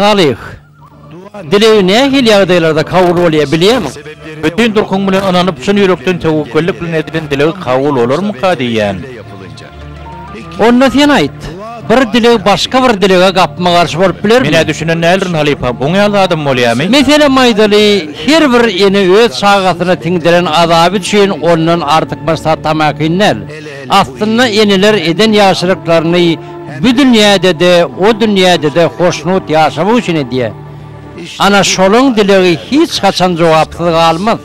Salyh, dileg nähili ýagdaýlarda kabul bolýar bilýämiň? Bütin durkuň bilen ynanyp, çyn ýürekden töwekgellik bilen edilen dileg kabul bolarmyka diýýän. Onda sen aýt, bir dileg başga bir dilege gapma-garşy bolup bilermi? Men-ä düşünen däldirin, halypa. Buň ýaly zadam bolýamy? Meselem aýdaly, her bir ene öz çagasyna siňdiren azaby üçin ondan artykmaç zat tamakin däl. Aslynda eneler eden ýagşylyklaryny bu dünýäde-de, o dünýäde-de hoşnut ýaşamak üçin edýär. Ana, şolaň dilegi hiç haçan jogapsyz galmaz.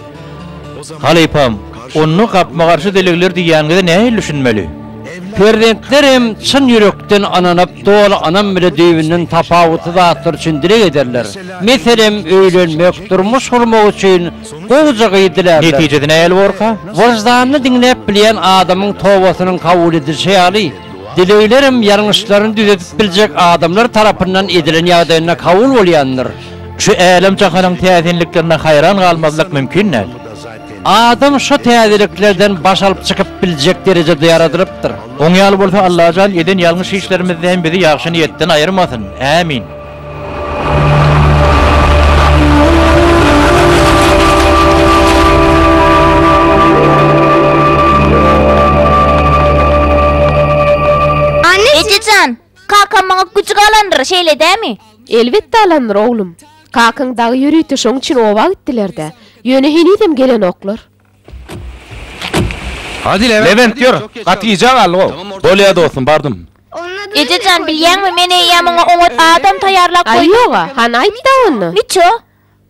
Halypam, onda gapma-garşy dilegler diýýäniňize nähili düşünmeli? Perzentler hem çyn ýürekden ynanyp, doly ynam bile düýbünden tapawutly zatlar üçin dileg ederler. Meselem, öýlenmek, durmuş gurmak üçin gowuja gyz dilärler. Netijesi nähili borka? Wyždanyny diňläp bilýän adamyň tobasynyň kabul edilişi ýaly, dileglerem ýalňyşlaryny düzedip biljek adamlar tarapyndan edilen ýagdaýynda kabul bolýandyr. Şu älem-jahanyň täsinliklerine haýran galmazlyk mümkin däl. Adam şo täzeliklerden baş alyp çykyp biljek derejede ýaradylypdyr. Oň ýaly bolsa Allajan eden ýalňyş işlerimizde hem bizi ýagşy niýetden aýyrmasyn. Ämin. Ejejan! Kakam maňa güjük alandyr, şeýle dämi? Elbetde alandyr, oglum. Kakaň dagy ýörite şoň üçin oba gitdiler-dä. Ýöne henizem gelenoklar. Lebent, ýör, gaty gijä galdyg-ow. Bolýa, dostum, bardym. Eje jan, bilýäňmi, men eýýäm oňa oňat adam taýýarlap goýdum. Aý, ýog-a, hany aýt-da onda. Niço?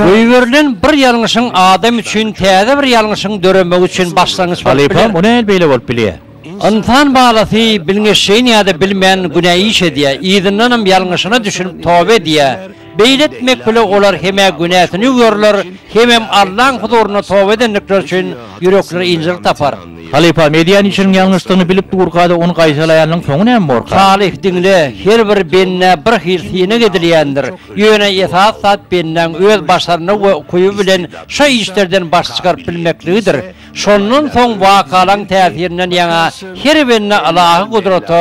Goýberilen bir ýalňyşyň adam üçin täze bir ýalňyşyň döremegi üçin başlangyç bolup biler. Halypam, o näl beýle bolup bilýär? Ynsan balasy bilňeşjeýin ýa-da bilmän günä iş edýär, yzyndanam ýalňyşyna düşünip toba edýär. Beýle etmek bile olar hem-ä günäsini ýuwýarlar, hemem Allaň huzurynda toba edendikleri üçin ýürekleri ynjylyk tapar. Halypa, Medýan işiniň ýalňyşdygyny bilip durka-da ony gaýtalaýanyň soňy näme borka? Salyh, Diňle, her bir bendä bir hil synag edilýändir. Ýöne esasy zat bendäň öz başarnygy we ukyby bilen şo işlerden baş çykaryp bilmekligidir. Şondan soň wakalaryň täsirinden ýaňa her bende ylahy gudrata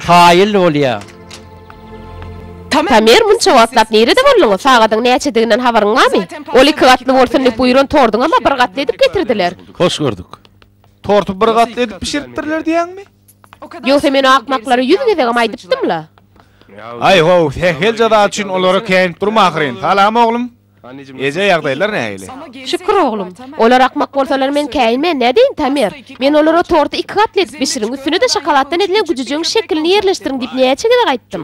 kaýyl bolýar. Tamer, munça wagtlap nirede bolduň? Sagadyň näçediginden habaryň barmy? Ol iki gatly bolsun diýip buýran torduňam-a bir gatly edip getirdiler. Hoş gördük. Torty bir gatly edip bişiripdirler diýýäňmi? Ýogsa men o akmaklara ýüz gezegem aýdypdym-la. Aý-how, sähel jaza üçin olara käýinip durma ahyryn. Salam, oglum. Eje ýagdaýlar nähili? Şükür oglum. Olar akmak bolsalar men käýinme, nädeýin Tamer? Men olara torty iki gatly edip bişiriň, üstüne-de şokoladdan edilen güjüjegiň şekilini ýerleşdiriň diýip näçe gezek aýtdym.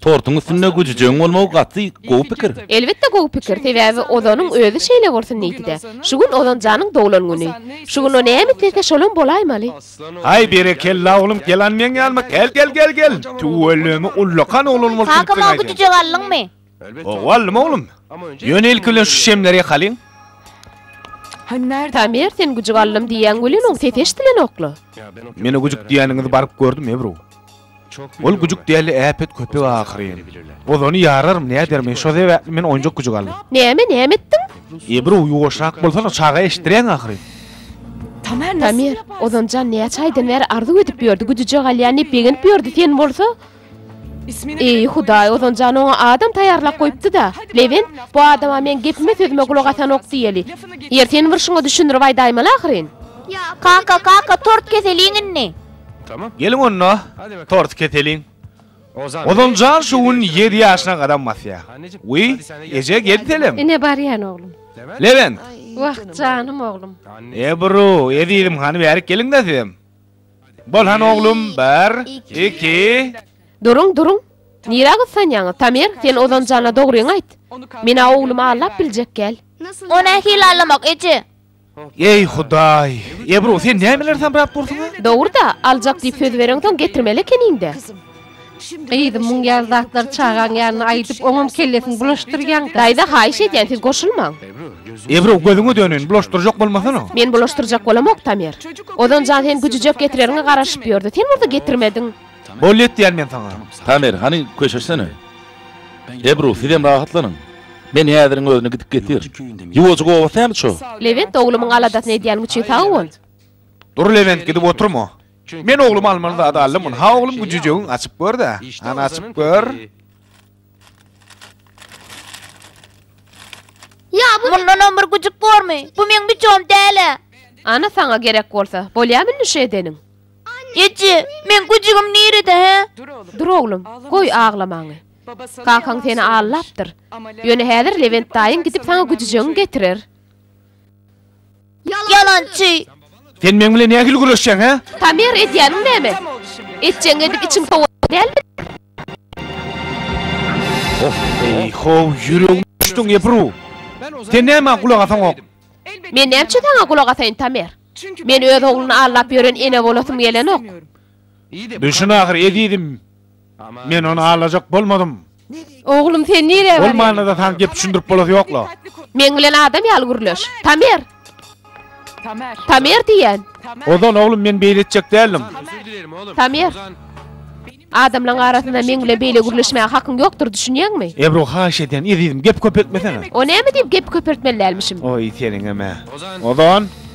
Tortuň üstünde güjüjegiň bolmagy gaty gowy pikir. Elbetde gowy pikir, sebäbi Ozanyň özi şeýle bolsun diýdi-de. Şu gün Ozan janyň doglan güni. Şu gün o näme islese şolam bolaýmaly. Haý berekella oglum, gelan meň ýanyma gel gel gel gel. Tüweleme ullakan oglan bolsun diýip Kaka maňa güjüjek aldyňmy? Howallym oglum. Ýöne ilki bilen şu şemleri ýakalyň. Tamer sen güjük aldym diýýäň welin oň sesi eşdilenokla. Men o güjük diýýäniňizi baryp gördüm Ebru. Ol güjük däldi äpet köpek ahyryn. Ozany ýararm näder men şo sebäpli men oýunjak güjük aldym. Näme näme etdiň? Ebru ýuwaşrak bolsana çaga eşitdiräň ahyryn. Tamer ozanjan näçe aýdan bäri arzuw edip ýördi güjüjek alýan diýip begenip ýördi sen bolsa Eý, Hudaý, ozaljan oňa adam taýýarlap goýupdy-da. Lewent, bu adama meň gepime-sözüme gulak asanok diýeli. Ýeri seniň bir şuňa düşündirip aýdaýmaly ahyryn. Kaka, kaka, tort keseliň indi. Geliň onda, torty keseliň. Ozaljan şu gün ýedi ýaşyna gadam basýar. Wiý, eje, gel selem. Ine barýan, oglum. Lewent. Wah, janym oglum. Ebru, ezizim, hany bärik geliň-de sizem. Bolhan oglum, bir, iki. Duruň, duruň. Nirä gyssanýaňyz, Tamer, sen Ozan jana dogryňy aýt. Men-ä oglumy allap biljekgäl. O nähili allamak, eje? Eý, Hudaý! Ebru, sen nämeler samrap dursuň-a? Dogry-da, aljak diýip söz bereňsoň getirmeli ekeniň-dä. Gyzym muň ýaly zatlary çagaň ýanyna aýdyp oňam kellesini bulaşdyrýaň. Daýza haýyş edýän siz goşulmaň. Ebru gözüňe döneýin bulaşdyrjak bolmasana. Men bulaşdyrjak bolamok Tamer. Ozanjan sen güjüjek getireriňe garaşyp ýördi. Sen bolsa getirmediň. Boldy etýän men saňa. Tamer hany köşeşsene. Ebru sizem rahatlanyň. Men häziriň özüne gidip getir. Ýuwajyk oba sämi ço. Lewent oglumyň aladasyny edýän üçin sag bol. Dur Lewent gidip oturma. Çünki men ogluma almaly zady aldymyn. Ha oglum bu jüjegiň açyp gör-dä. Ana açyp gör. Ya bu Mundan on bir güjük bormy? Bu meň biçom däle. Ana saňa gerek bolsa. Bolýamy indi şu edeniň? Eje, men güjügim nirede he? Dur oglum, goý aglamaňy. Kakaň seni allapdyr. Ýöne häzir Lewent daýyň gidip saňa güjüjegiň getirer. Ýalançy! Sen meň bilen nähili güreşýäň, hä? Pamir, edýäniň näme? Etjegiňi edip içiň sowaýan dälmi? Eý-how, ýüregimi ýuçduň, Ebru! Sen nämä gulak asaňok? Men nämçe saňa gulak asaýyn, Pamir? Men öz ogluny aldap ýören ene bolasym gelenok. Düşün ahyry, ezizim! Men ony alajak bolmadym. Oglum, sen nirä barýaň? Ol manyda saňa gep düşündirip bolasy ýok-la. Meň bilen adam ýaly gürleş. Tamer! Tamer diýýän! Ozan, oglum, men beýle etjek däldim. Tamer! Adamlaň arasynda meň bilen beýle gürleşmäge hakyň ýokdur, düşünýäňmi? Ebru, haýyş edýän, ezizim, gep köpeltmesene. O näme diýip gep köpeltmeli dälmişim? Oý, seniňem-ä. Ozan!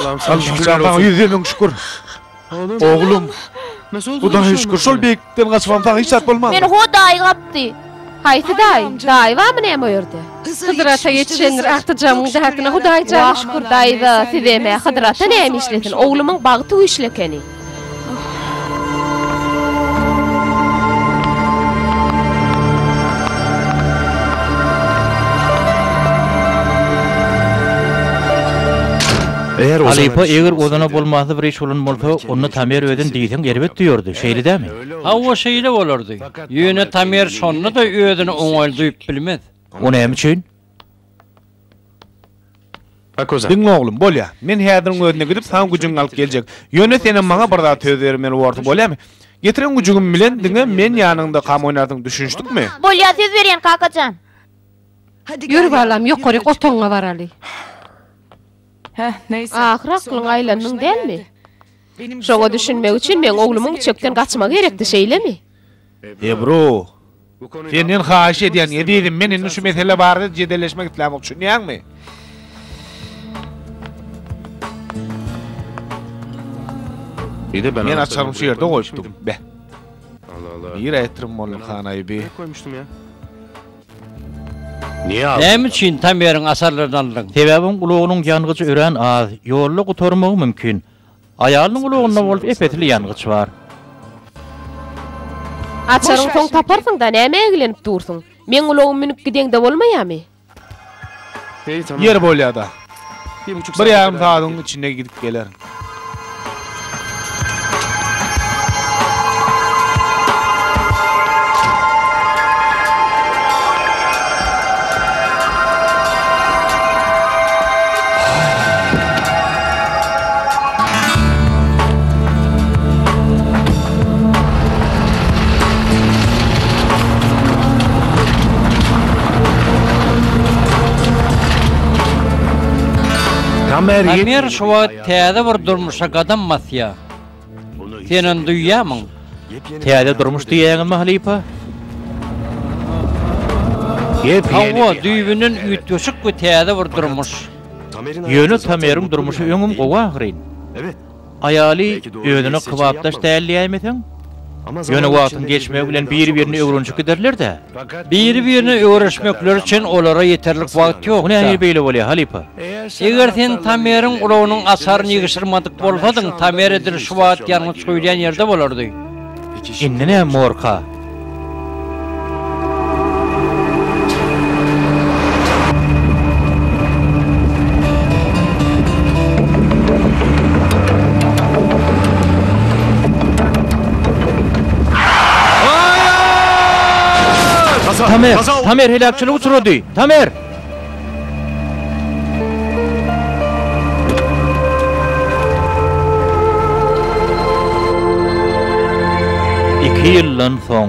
Allahym saňa Allahym şükürler saňa olsun. ýüzde müň şükür. Oglum. Oglum, Nasıl oldu? Hudaýa Nasıl şükür, olmadı? şol beýiklikden gaçmam saňa hiç zat bolmazdy. Meni Hudaý gapdy. Haýsy daýy? Daýy barmy näme o ýerde? Hydyr ata ýetişendir agtyjamyň däkine Hudaý jana Wah, şükür daýza, sizem-ä Hydyr ata näme işlesin, oglumyň bagty güýçli ekeni. Halypa, eger ozana bolmazly bir iş bolan bolsa, onda Tamer özün diýseň erbet duýardy, şeýle dämi? Hawa, şeýle bolardy. Ýöne Tamer şonda-da özüni oňaýly duýup bilmez. O näme üçin? Diňle oglum, bolýa. Men häziriň özünde gidip, saňa güjüňi alyp geljek. Ýöne senem maňa bir zat söz bermeli borsuň, bolýamy? Getiren güjügim bilen diňe men ýanyňdakam oýnarsyň, düşünişdikmi? Bolýa, söz berýän, kaka jan. Ýör, balam, ýokaryk otagyňa baraly. Ahyry aklyňa aýlandyň dälmi? Şoňa düşünmek üçin meň oglumyň çökden gaçmagy gerekdi, şeýlemi? Ebru, senden haýyş edýän, ezizim, men indi şu mesele barada jedelleşmek islämok, düşünýäňmi? Men açarymy şu ýerde goýupdym. Beh. Nirä etdirin Mollum han aýby? Näme üçin Tameriň asarlaryny aldyň? Sebäbim ulagynyň ýangyjy örän az, ýolda gutarmagy mümkin. Aýalynyň gulagynda bolup ep-esli ýangyç bar. Açaryň soň taparsyň-da, nämä eglenip dursuň? Meň ulagym münüp gideňde bolmaýamy? Ýeri bolýa-da. Bir ýarym sagadyň içinde gidip gelerin. Tamer şu wagt täze bir durmuşa gadam basýar. Sen ony duýýarmyň? Täze durmuş diýýäňizmi, halypa? Hawa, düýbünden üýtgeşik we täze bir durmuş. Ýöne Tameriň durmuşy öňem gowy ahyryn. Aýaly özüne kybapdaş däl diýäýmeseň? Ýöne wagtyň geçmegi bilen biri-birini öwrenişip giderler-dä. Biri-birine öwreşmekleri üçin olara ýeterlik wagt ýok. Nähili beýle bolýar, halypa? Eger sen Tameriň ulagynyň açaryny ýygşyrmadyk bolsadyň, Tamer edil şu wagt ýangyç guýulýan ýerde bolardy. Indi näme, Morka? Tamer! Tamer heläkçilik uçrady! Tamer! Iki ýyldan soň.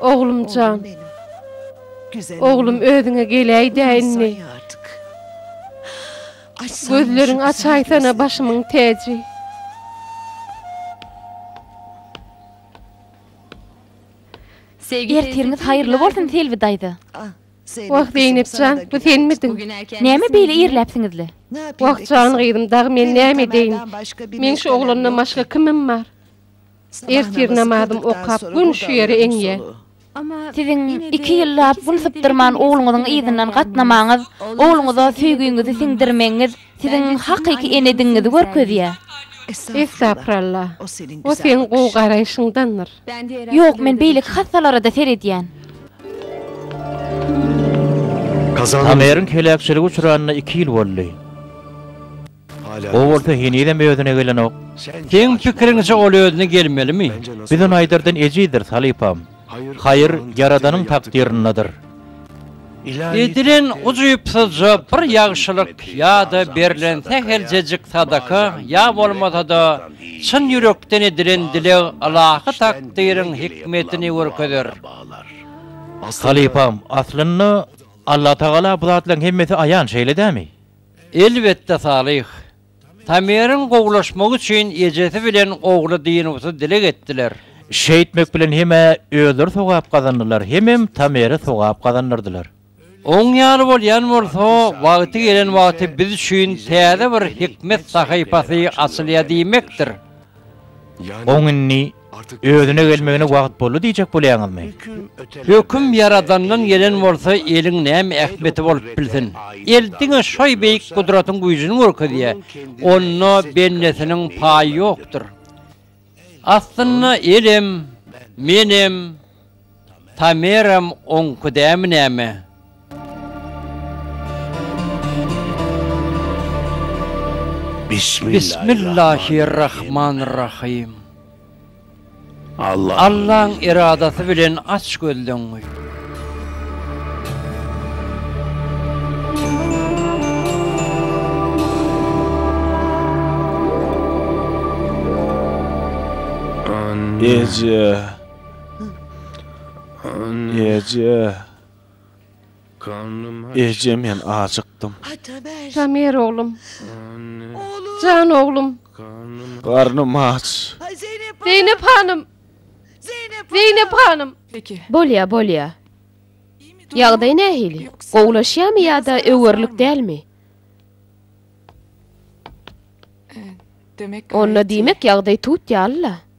Oglumjan. Oglum özüňe geläýdä indi. Gözleriň açaýsana başymyň täji. Ertiriňiz haýyrly bolsun Selbi daýza. Wah Zeýnepjan bu senmidiň. Näme beýle irläpsiňizle. Wah jan gyzym dagy men näme edeýin. Meň şu oglandan başga kimim bar. Ertir namazym okap gün şu ýere eňýä. Siziň iki ýyllap gün sypdyrman ogluňyzyň yzyndan gatnamaňyz, ogluňyza söýgiňizi siňdirmegiňiz siziň hakyky enedigiňizi görkezýä. Estagfyralla. O seň gowy garaýşyňdandyr. Ýok men beýleki hassalarada seredýän. Tameriň heläkçilige uçranyna iki ýyl boldy. O bolsa henizem özüne gelenok. Seň pikiriňçe ol özüne gelmelimi? Biz ony aýdardan ejidir, halypam. Haýyr, Ýaradanyň takdyryndadyr. Edilen ujypsyzja bir ýagşylyk ýa-da berlen säheljejik sadaka ýa bolmasa-da çyn ýürekden edilen dileg ylahy takdyryň hikmetini görkezer. Halypam, aslynda Allatagala bu zatlaryň hemmesi aýan, şeýle dämi? Elbetde Salyh. Tameriň gowulaşmagy üçin ejesi bilen ogly dynuwsyz dileg etdiler. Şeýtmek bilen hem-ä özleri sogap gazandylar, hemem Tamere sogap gazandyrdylar. Oň ýaly bolýan bolsa, wagty gelen wagty biz üçin täze bir hikmet sahypasy açylýar diýmekdir. Oň indi Özüne gelmegine wagt boldy diýjek bolýaňyzmy? Höküm Ýaradandan gelen bolsa eliň näme ähmiýeti bolup bilsin? El diňe şoý beýik gudratyň güýjüni görkezýär. Onda bendesiniň paýy ýokdur. Aslynda elem, menem, Tameram oňki dämi näme? Bismillahirrahmanirrahym. Allaň eradasy bilen aç gözleňňi. Eje. Eje. Eje men acykdym. Tamer oglum. Jan oglum. Garnym aç. Zeynep hanym. Zeynep hanym. Bolýa bolýa. Ýagdaý nähili? Gowulaşýamy ýa-da öwerlik dälmi? Onda diýmek ýagdaý tut ýaly-la.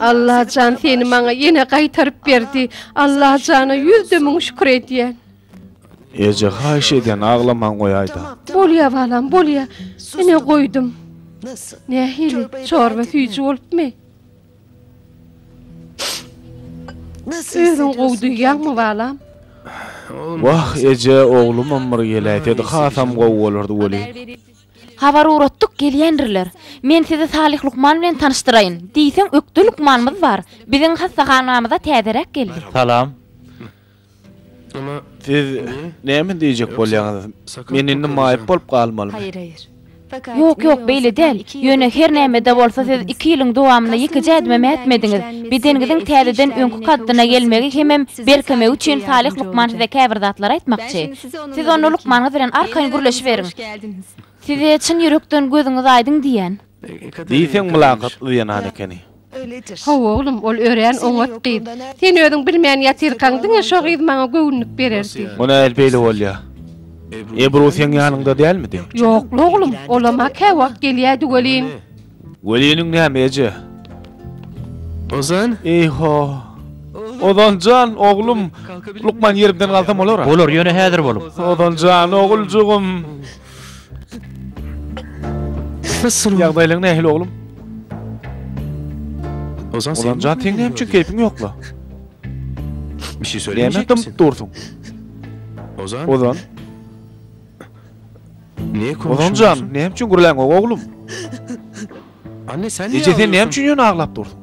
Allajan seni maňa ýene gaýtaryp berdi Allajana ýüz de müň şükür edýän. Eje haýyş edýän aglaman goýaýda. Bolýa balam bolýa ine goýdum. Nähili çorba süýji bolupmy. Özüň gowy duýýaňmy balam. Wah eje oglumam bir geläýsedi hasam gowy bolardy weli. Habar ugratdyk, gelýändirler. Men sizi Salyh lukman bilen tanyşdyraýyn. Diýseň ökde lukmanymyz bar. Biziň hassahanamyza täzeräk geldi. Salam. Siz näme diýjek bolýaňyz? Men indi maýyp bolup galmalymy? Ýok, ýok, beýle däl. Ýöne her näme-de bolsa siz iki ýylyň dowamynda ýekeje ädimem ätmediňiz. Bedeniňiziň täzeden öňki kaddyna gelmegi hemem berkemegi üçin Salyh lukman size käbir zatlar aýtmakçy. Siz onda lukmanyňyz bilen arkaýyn gürleşiberiň. Size çyn ýürekden gözüňiz aýdyň diýýän. Diýseň mylakat yzýanan ekeni. Hawa oglum, ol örän oňat gyz. Sen özüň bilmän ýatyrkaň, diňe şo gyz maňa göwünlik bererdi. Bu nähili beýle bolýar? Ebru seň ýanyňda dälmidi? Ýok-la oglum, olam-a käwagt gelýärdi welin. Weliniň näme eje? Ozan? Eý-ho! Ozan jan, oglum! Lukman ýerimden galsam bolar-a? Bolar, ýöne häzir bolup. Ozan jan, oguljygym! Ýagdaýlaň nähili, oglum? Ozan jan, seň näme üçin keýpiň ýok-la? Näme dymyp dursuň? Ozan? Ozan jan, näme üçin gürläňok oglum? Anne sen niye Eje sen näme üçin ýöne aglap dursun?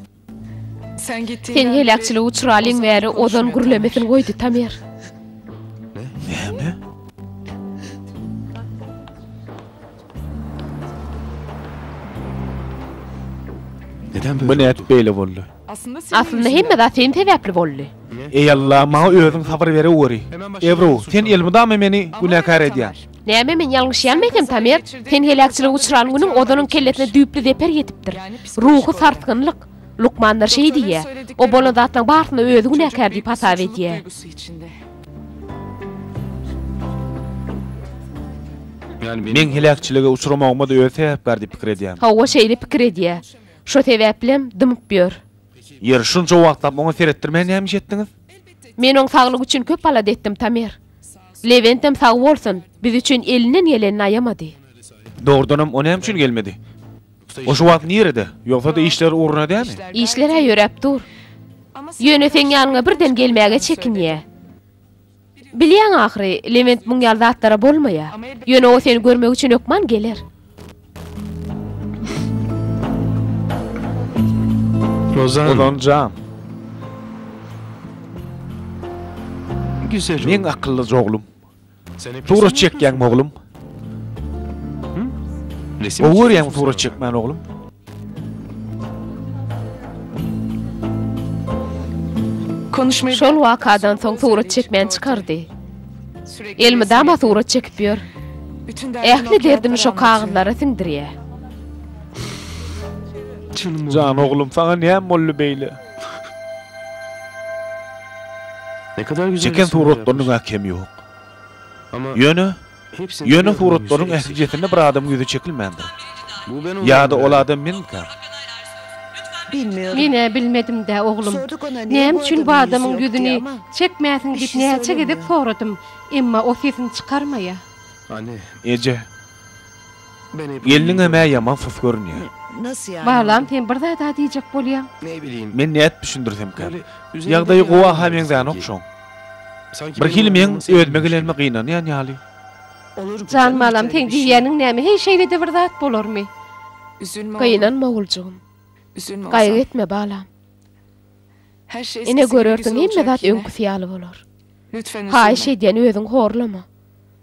Sen gittiğinden Sen heläkçilige uçralyň bäri Ozan gürlemesin goýdy Tamer. Näme? Neden böyle? Bu nädip beýle boldy? Aslynda hemme zat sen sebäpli boldy. Eý Alla, maňa özüň sabyr bereweri. Ebru, sen elmydama meni günäkär edýäň. Näme men ýalňyşýanmy ekem Tamer? Sen heläkçilige uçran günüň ozanyň kellesine düýpli zeper ýetipdir. Ruhy sarsgynlyk. Lukmanlar şeý diýýä. O bolan zatlaryň barysyna özi günäkär diýip hasap edýä. Meň heläkçilige uçramagyma-da özi sebäpkär diýip pikir edýän. Hawa, şeýle pikir edýä. Şo sebäplem dymyp ýör. Ýeri şunça wagtlap oňa seretdirmän näme iş etdiňiz? Men oň saglygy üçin köp alada etdim, Tamer. Lewentem sag bolsun, biz üçin elinden gelenini aýamady. Dogrudanam o näme üçin gelmedi? O şu wagt nirede? Ýogsa-da işler ugruna dämi? Işler-ä ýöräp dur. Ýöne seň ýanyňa birden gelmäge çekinýä. Bilýäň ahyry, Lewent muň ýaly zatlara bolmaýar. Ýöne o seni görmek üçin hökman geler. Ozan jan. Meň akyllyja oglum. Surat çekýäňmi oglum? Resim Gowy görýän surat çekmän oglum. Konuşmayı Şol wakadan soň surat çekmän çykardy. Elmydama surat çekip ýör. Ähli derdini şo kagyzlara siňdirýär. Jan oglum, saňa näme boldy beýle? Ne kadar güzel Çeken resimler suratlarynyň yapmış. äkemi ýok. Ýöne, ýöne suratlaryň ählijesinde bir adamyň ýüzi çekilmändir. Ýa-da ol adam menmikä? Men-ä bilmedim-dä, oglum. Näme üçin bu adamyň ýüzüni çekmäsiň diýip näçe gezek soradym, emma o sesini çykarmaýar. Eje, Gelniňem-ä ýaman sys görünýär. Balam, sen bir zat-a diýjek bolýaň? Men nädip düşündirsemkäm? Ýagdaýy gowy-a-ha meňzänok şoň. Birhili meň özüme gelenime gynanýan ýaly. Jan balam, seň diýýäniň näme, heý, şeýle-de bir zat bolarmy? Gynanma, oguljygym. Gaýgy etme, balam. Ine, görersiň, hemme zat öňküsi ýaly bolar. Haýyş edýän, özüňi horlama.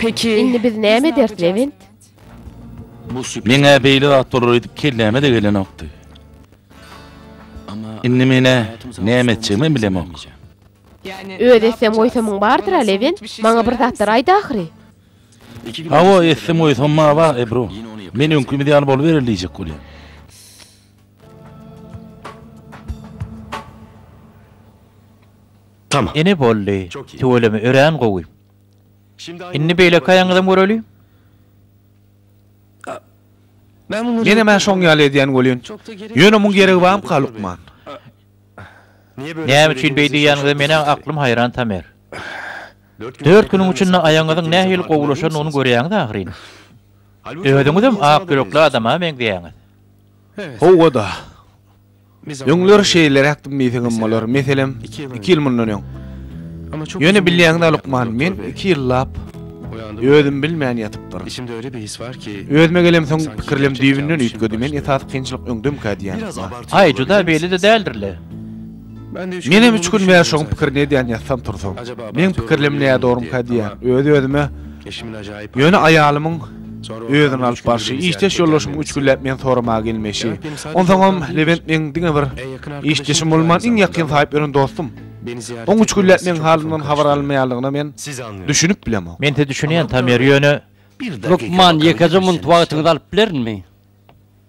Peki. Indi biz näme ederis, Lewent? Meňä beýle zat bolar edip kelläme-de gelenokdy. Indi men-ä näme etjegimem bilemok. Öz etsem-goýsamyň bardyr-a, Lewent? Maňa bir zatlar aýt ahyry. Hawa, etsem-goýsam maňa bag, Ebru. Men öňkimiz ýaly boluberer diýjek bolýan. Tamam. Ine boldy. Tüweleme örän gowy. Indi beýleki aýagyňyzam göreli. Menem hä şoň ýaly edýän welin. Ýöne muň geregi bamyka lukman. Näme üçin beý diýýäniňize menä aklym haýran Tamer. Dört günüň içinde aýagyňyzyň nähili gowulaşanyny görýäňiz ahyryn. Özüňizem ak ýürekli adama meňzeýäňiz. Howwa-da. Öňler şeýleräk dim diýseňem bolar, meselem, iki ýyl mundan öň. Ýöne bilýäňdä lukman, men iki ýyllap özüm bilmän ýatypdyryn. Içimde öýle bir his bar ki, Özüme gelemsoň, pikirlem düýbünden üýtgedi, men esasy kynçylyk öňdemkä diýýän lukman. Aý, juda beýle-de däldir-le. Menem üç gün bäri şoň pikirini edýän ýatsam tursam. Meň pikirlem nädogurymka diýýän, öz-özüme. Ýöne aýalymyň. Özüň alyp barşy, işdeş ýoldaşyň üç günläp meni soramaga gelmeşi. Onsoňam Lebent meň diňe bir işdeşim bolman, iň ýakyn saýyp ýören dostum. Oň üç günläp meň halymdan habar alynmaýanlygyna men düşünip bilemok. Mense düşünýän, Tamer, ýöne. Lukman, ýekeje munt wagtyňyzy alyp bilerinmi?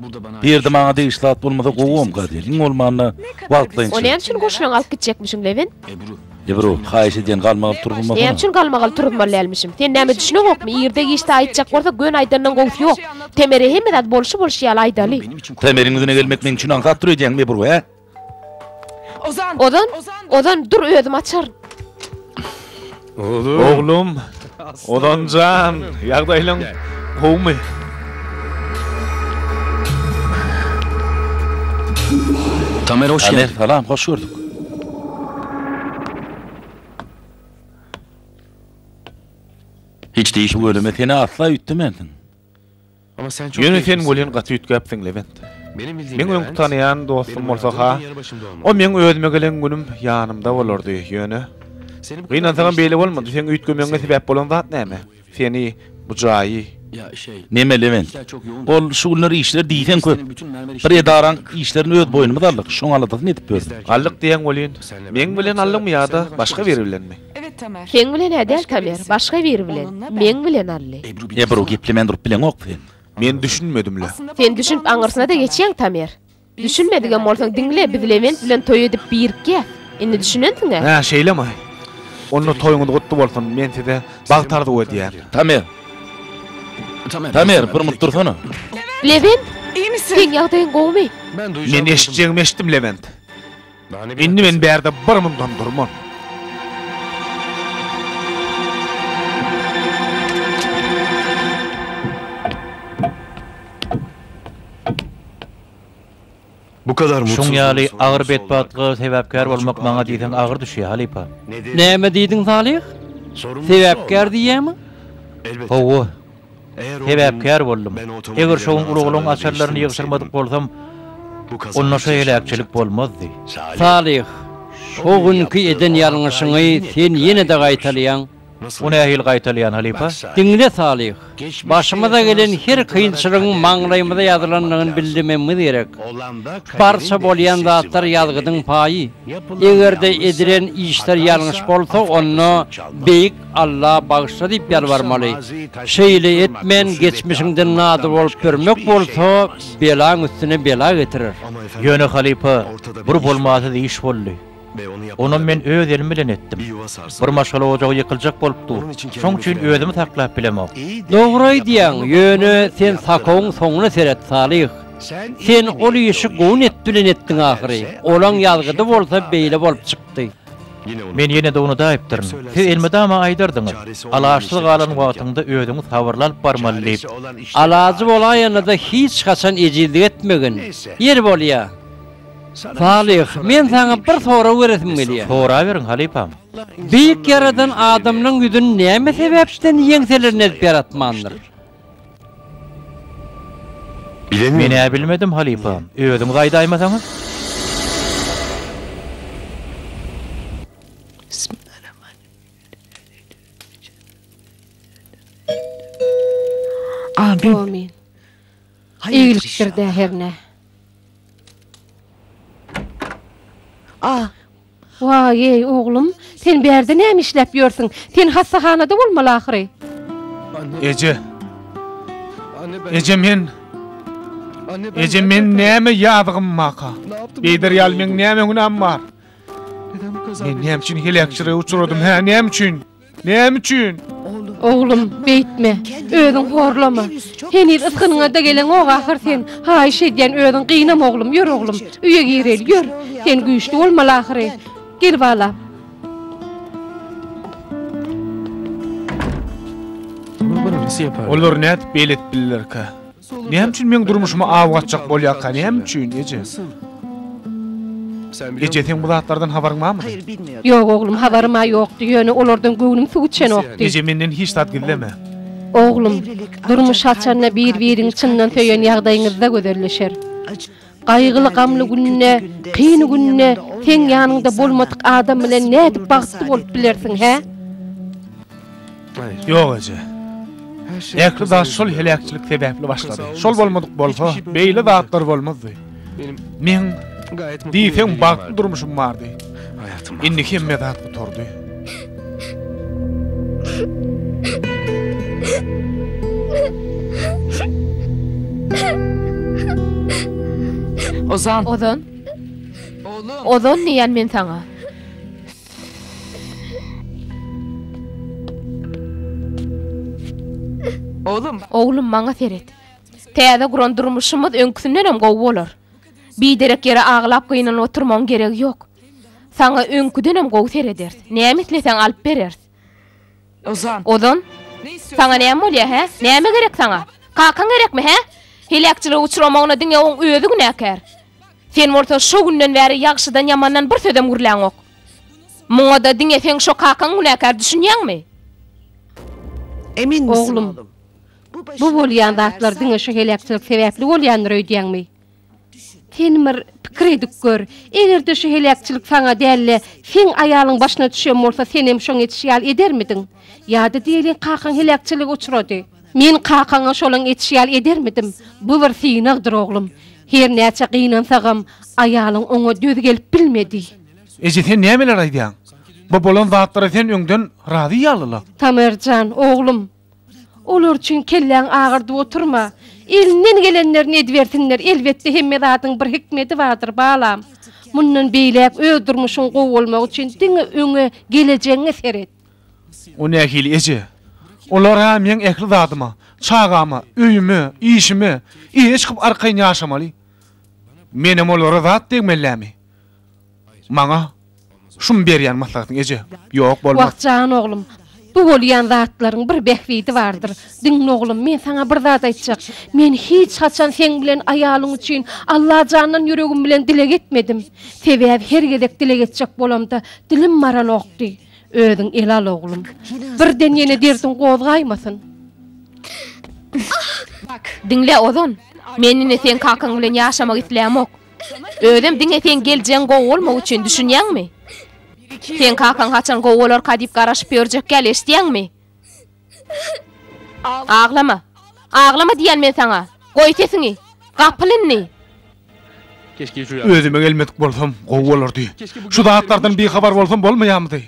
Bu ýerde maňa degişli zat bolmasa gowam gadyr. Iň bolmanda wagtlaýyn. Ol näme üçin goşunyňy alyp gitjekmişiň Lewin? Ebru, haýyş edýän galmagy alyp turuzmasana. Näme üçin galmagy alyp turuzmaly dälmişim? Sen nämä düşüneňokmy? Irde giçde aýtjak bolsa göni aýdandan gowusy ýok. Temere hemme zat bolşy bolşy ýaly aýdaly. Temeriň ýüzüne gelmek meň üçin aňsat dur edýäňmi Ebru, hä? Ozan! Ozan! Ozan, dur özüm açaryn. Ozan! Oglum! Ozan jan! Ýagdaýlaň gowumy? Tamer hoş geldin. Tamer salam hoş gördük. Hiç değişik. Ölüme seni asla ütdemensin. Ýöne sen welin gaty üýtgäpsiň, Lebent. Meň öňki tanaýan dostum bolsa-ha, o meň özüme gelen günüm ýanymda bolardy. Ýöne, gynansagam beýle bolmady. Seň üýtgemegiňe sebäp bolan zat näme? Seni, bu jaýy. Neme, Lebent? Ol şu günler işler diýseň köp. Bir edaraň işlerini öz boýnumyz aldyk, şoň aladasyny edip ýördüm. Aldyk diýýäň welin, meň bilen aldyňmy ýa-da başga biri bilenmi? Seň bilen-ä däl, Tamer, başga biri bilen. Meň bilen, Alli. Ebru, geplemän durup bileňok sen. Men düşünmedim-le. Sen düşünip aňyrsyna-da geçýäň, Tamer. Düşünmedigem bolsaň, diňle, biz Lewent bilen toý edip birikýäs. Indi düşünensiň-ä? Hä, şeýlemi? Onda toýuňyz gutly bolsun. Men size bagt arzuw edýän. Tamer! Tamer, bir munt dursana. Lewent! Seň ýagdaýyň gowumy? Men eşitjegimi eşitdim, Lewent. Indi men bärde bir mundan durman. Bu kadar mutsuz. Şoň ýaly agyr betbagtlyga sebäpkär bolmak maňa diýseň agyr düşýär, halypa. Näme diýdiň, Salyh? Sebäpkär diýýämi? Hawa, Sebäpkär boldum. Eger şogun ulaglaň açarlaryny ýygşyrmadyk bolsam, onda şo heläkçilik bolmazdy. Salyh, şo günki eden ýalňyşyňy sen ýene-de gaýtalaýaň. O nähili gaýtalaýan, halypa? Diňle, Salyh. Başymyza gelen her kynçylygyň maňlaýymyza ýazylandygyny bilmegimiz gerek. Barça bolýan zatlar ýazgydyň paýy. Eger-de edilen işler ýalňyş bolsa, onda beýik Alla bagyşla diýip ýalbarmaly. Şeýle etmen geçmişiňden nadyr bolup ýörmek bolsa belaň üstüne bela getirer. Ýöne halypa, bir bolmasyz iş boldy. Onam men öz elim bilen etdim. Bir maşgala ojagy ýykyljak bolup dur. Şoň üçin özümi saklap bilemok. Dogry aýdýaň, ýöne sen sakowyň soňuna seret, Salyh. Sen ol işi gowun et bilen etdiň ahyry. Olaň ýazgydy bolsa beýle bolup çykdy. Men ýene-de unuda aýypdyryn. Siz elmydama aýdardyňyz, Alaçsyz galan wagtyňda özüňi sabyrly alyp barmaly diýip. Alajy bolaýanda-da hiç haçan ejizlik etmegin. Ýeri bolýa, Salyh, men saňa bir sorag beresim gelýär. Soraberiň, halypam. Beýik Ýaradan adamlaryň ýüzüni näme sebäpden ýeňselerini ezip ýaratmandyr? Menä bilmedim halypa, özüňiz aýdaýmasaňyz? Amin. Eýgilikdir-dä hernä. Waý-eý, oglum, sen bärde näme işläp ýörsüň? Sen hassahanada bolmaly ahyry? Eje! Eje, men. Eje, men näme ýazygym baka? Beýder ýaly meň näme günäm bar? Men näme üçin heläkçilige uçradym, hä, näme üçin? Näme üçin? Oglum, beýtme. Özüň horlama. Heniz ysgynyňa-da geleňok ahyr sen. Haýyş edýän, özüň gynama oglum. Ýör oglum, öýe gireli, ýör. Sen güýçli bolmaly ahyry. Gel balam. Olar nädip beýle edip billerkä? Näme üçin meň durmuşymy aw gaçjak bolýarka, näme üçin, eje? Eje, seň bu zatlardan habaryň barmy? Ýok, oglum, habarym-a ýokdy, ýöne olardan göwnüm suw içenokdy. Eje, menden hiç zat gizleme. Oglum, durmuş açanda bir-biriňi çyndan söýen ýagdaýyňyzda gözelleşer. Gaýgyly-gamly günde, kyn günde seň ýanyňda bolmadyk adam bilen nädip bagtly bolup bilersiň, hä? Ýok, eje. Ähli zat şol heläkçilik sebäpli başlady. Şol bolmadyk bolsa, beýle zatlar bolmazdy. Meň, diýseň, bagtly durmuşym bardy. Indi hemme zat gutardy. Ozan. Ozan. Ozan diýen men saňa. Oglum. Oglum maňa seret. Täze guran durmuşymyz öňküsinden hem gowy bolar. Biderek ýere aglap gynanyp oturmagyň geregi ýok. Saňa öňküdenem gowy serederis. Näme isleseň alyp bereris. Ozan. Saňa näme bolýar, hä? Näme gerek saňa? Kakaň gerekmi, hä? Heläkçilige uçramagyna diňe oň özi günäkär. Sen bolsa şo günden bäri ýagşydan-ýamandan bir sözem gürläňok. Muňa-da diňe seň şo kakaň günäkär, düşünýäňmi? Eminmisiň, oglum? Bu bolýan zatlar diňe şu heläkçilik sebäpli bolýandyr öýdýäňmi? Sen bir pikir edip gör, eger-de şu heläkçilik saňa däl-de, seň aýalyň başyna düşen bolsa, senem şoň etişi ýaly edermidiň? Ýa-da diýeliň, kakaň heläkçilige uçrady. Men kakaňa şolaň etişi ýaly edermidim? Bu bir synagdyr, oglum. Her näçe gynansagam, aýalyň oňa döz gelip bilmedi. Eje, sen nämeler aýdýaň? Bu bolan zatlara sen öňden razy ýaly-la. Tamer jan, oglum! Olar üçin kelläňi agyrdyp oturma. Elinden gelenlerini edibersinler, elbetde hemme zadyň bir hikmedi bardyr, balam. Mundan beýläk öz durmuşyň gowy bolmagy üçin diňe öňe, gelejegiňe seret. O nähili eje? Olar-a meň ähli zadyma, çagama, öýüme, işime eýe çykyp arkaýyn ýaşamaly. Menem olara zat degmellämi? Maňa şumy berýän maslahatyň eje? Ýok, bolmaz. Wah, jan oglum, bu bolýan zatlaryň bir bähbidi bardyr. Diňle oglum, men saňa bir zat aýtjak. Men hiç haçan seň bilen aýalyň üçin Allajandan ýüregim bilen dileg etmedim. Sebäbi her gezek dileg etjek bolamda dilim baranokdy. Özüň ele al, oglum. Birden ýene derdiň gozgaýmasyn. Diňle, Ozan, men indi seň kakaň bilen ýaşamak islämok. Özem diňe seň geljegiň gowy bolmak üçin, düşünýäňmi? Seň kakaň haçan gowy bolarka diýip garaşyp ýörjek ýaly, eşidýäňmi? Aglama! Aglama diýýän men saňa! Goý sesiňi! Gapyl indi! Özüme gelmedik bolsam, gowy bolardy. Şu zatlardan bihabar bolsam bolmaýarmydy?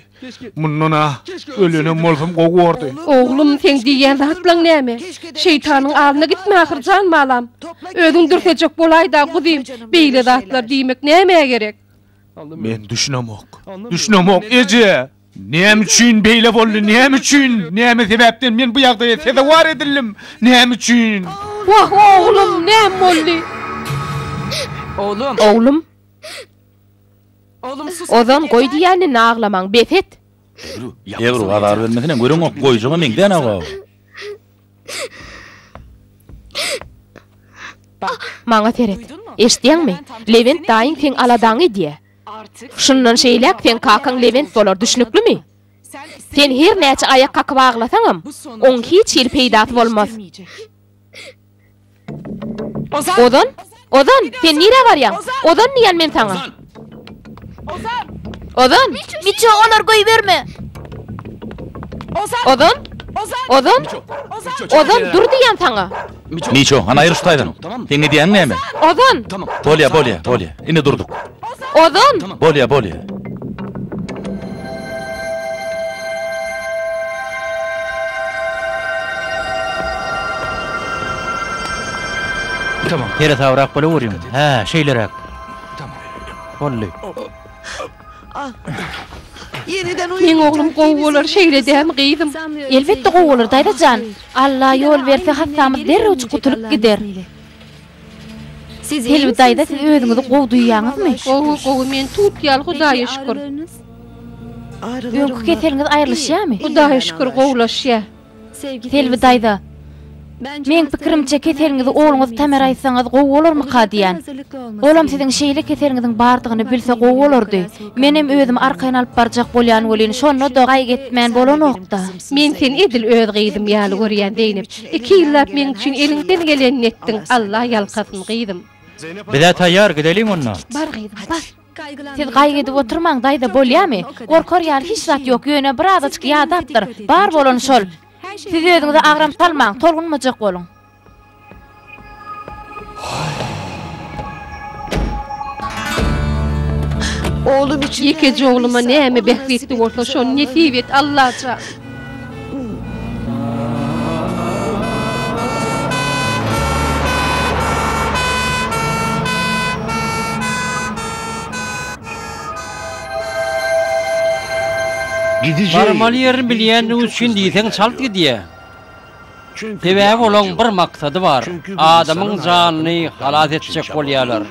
Mundan-a ölenem bolsam gowy bordy. Oglum, seň diýýän zatlaň näme? Şeýtanyň alnyna gitme ahyr, jan balam. Özüň dürsejek bolaý-da, guzym, beýle zatlar diýmek nämä gerek? Men düşünemok. Düşünemok, eje! Näme üçin beýle boldy? Näme üçin? Näme sebäpden men bu ýagdaýa sezewar edildim? Näme üçin? Wah, oglum, näme boldy? Oglum! Ozan goý diýýäni naglamaň bes et. Ebru azar bermesine göreňok goýjaga meňzän abaw. Maňa seret. Eştýäňmi? Lewent daýyň seň aladaňy edýä. Şundan şeýläk seň kakaň Lewent bolar düşnüklimi? Sen her näçe aýak kakyp aglasaňam oň hiç hili peýdasy bolmaz. Ozan! Ozan? Ozan, sen nirä barýaň? Ozan diýýän men saňa. Ozan! Ozan! Miço, olar goýberme! Ozan! Ozan! Ozan! Ozan, dur diýýän saňa. Miço, hany aýryl şu taýdan. Seň edýäň näme? Ozan! Bolýar, bolýar, bolýar. Indi durduk. Ozan! Bolýa, bolýa. Tamam. Ýere tabrak bolup urýum. Hä, şeýleräk. Boldy. Meň oglum gowy bolar şeýle dämi gyzym? Elbetde gowy bolar daýza jan. Alla ýol berse hassamyz derrewjik gutulyp gider. Selbi daýza siz özüňizi gowy duýýaňyzmy? Gowy gowy men tut ýaly hudaýa şükür. Öňki keseliňiz aýrylyşýamy? Hudaýa şükür gowulaşýa. Selbi daýza Meň pikirimçe keseliňizi ogluňyz Tamera aýtsaňyz gowy bolarmyka diýýän. Olam siziň şeýle keseliňiziň bardygyny bilse gowy bolardy. Menem özümi arkaýyn alyp barjak bolýan welin şonda-da gaýgy etmän bolanokda. Men seni edil öz gyzym ýaly görýän Zeýnep. Iki ýyllap meň üçin eliňden gelenini etdiň, Alla ýalkasyn gyzym. Bizä taýýar, gideliň onda. Bar gyzym, bar. Siz gaýgy edip oturmaň, daýza, bolýamy? Gorkar ýaly hiç zat ýok, ýöne bir azajyk ýadapdyr, bar bolany şol. Siz özüňize agram salmaň, tolgunmajak boluň. Oglum üçin Ýekeje ogluma näme bähbitli bolsa şony nesip et Allajan. Gidijä Barmaly ýerini bilýändigi üçin diýseň çalt gidýär. Sebäbi olaň bir maksady bar, adamyň janyny halas etjek bolýarlar.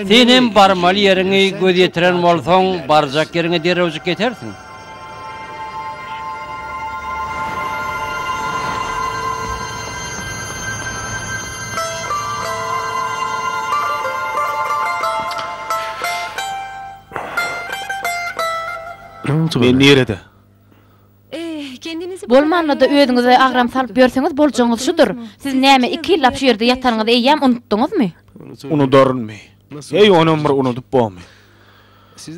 Sen hem barmaly ýeriňi göz ýetiren bolsaň, barjak ýeriňe derrewjik ýetersiň. Men nirede? Bolmanda-da özüňize agram salyp ýörseňiz boljagyňyz şudur. Siz näme iki ýyllap şu ýerde ýatanyňyzy eýýäm unutdyňyzmy? Unudarynmy? Heý, onam bir unudyp bomy?